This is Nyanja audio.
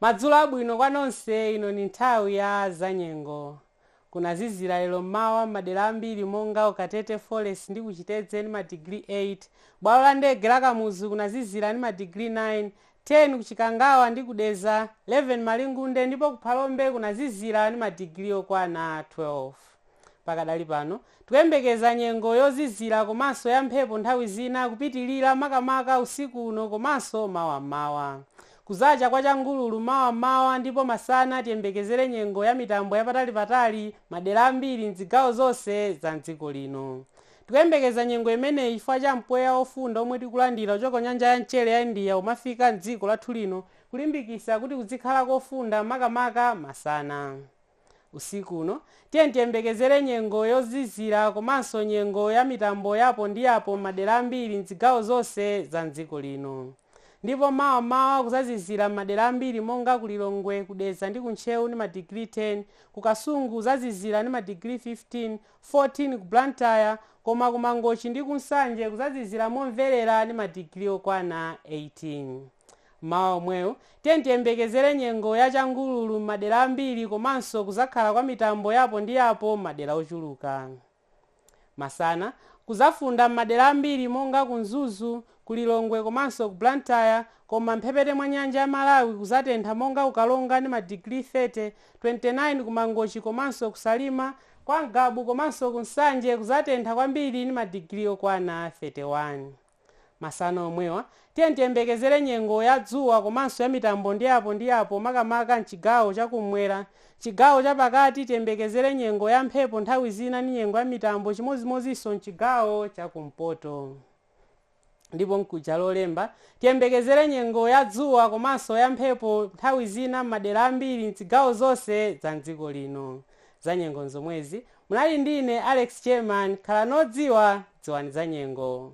Madzulo abwino kwa nonse ino ni nthawi ya zanyengo. Kunazizira lero m'mawa m'madera ambiri monga Ukatete Forest ndi ku Chitedze ni madigiri 8, bwalo la ndege la Kamuzu kunazizira ni madigiri 9, 10 ku Chikangawa ndi ku Dedza, 11 Malingunde ndipo ku Phalombe kunazizira ndi madigiri okwana 12. Pakadali pano, tikuyembekeza nyengo yozizira komanso ya mphepo nthawi zina kupitilira makamaka usiku uno komanso mawa m'mawa. Kuzacha kwa changululu mawa m'mawa ndipo masana tiyembekezere nyengo ya mitambo yapatalipatali madera ambiri m'dzigawo zonse za m'dziko lino. Tikuyembekeza nyengo imeneyi chifukwa cha mpweya ofunda omwe tikulandira kuchoka ku nyanja ya mchere ya India umafika m'dziko lathu lino kulimbikitsa kuti kudzikhala kofunda makamaka masana. Usiku uno tiyeni tiyembekezere nyengo yozizira komanso nyengo ya mitambo ya apo ndi apo m'madera ambiri m'dzigawo zonse za m'dziko lino. Ndipo mawa m'mawa kuzazizira m'madera ambiri monga ku Lilongwe, ku Dedza ndi ku Ntcheu ndi madigiri 10, ku Kasungu kuzazizira ndi madigiri 15, 14 ku Blantyre koma ku Mangochi ndi ku Nsanje kuzazizira momverera ndi madigiri okwana 18. Mmawa omwewu, tiyeni tiyembekezere nyengo ya changululu m'madera ambiri komanso kuzakhala kwa mitambo ya apo ndi apo m'madera ochuluka. Masana, kuzafunda m'madera ambiri monga ku Mzuzu, ku Lilongwe komanso ku Blantyre koma m'mphepete mwa nyanja ya Malawi kuzatentha monga ku Karonga ni ma digiri 30, 29 ku Mangochi komanso ku Salima, kwa Ngabu komanso ku Nsanje kuzatentha kwambiri ni ma digiri okwana 31. Masana omwewa, tiyeni tiyembekezere nyengo ya dzuwa komanso ya mitambo ndi apo ndi apo makamaka m'chigawo cha ku m'mwera. M'chigawo cha pakati tiyembekezere nyengo ya mphepo nthawi zina ni nyengo ya mitambo chimodzimodzinso m'chigawo cha ku mpoto. Ndipo mkuja Lolemba, tiyembekezere nyengo ya dzuwa komanso ya mphepo nthawi zina m'madera ambiri m'zigawo zonse za m'dziko lino. Zanyengo nzomwezi. Munali ndi ine, Alex Chairman. Khalani odziwa, dziwani zanyengo.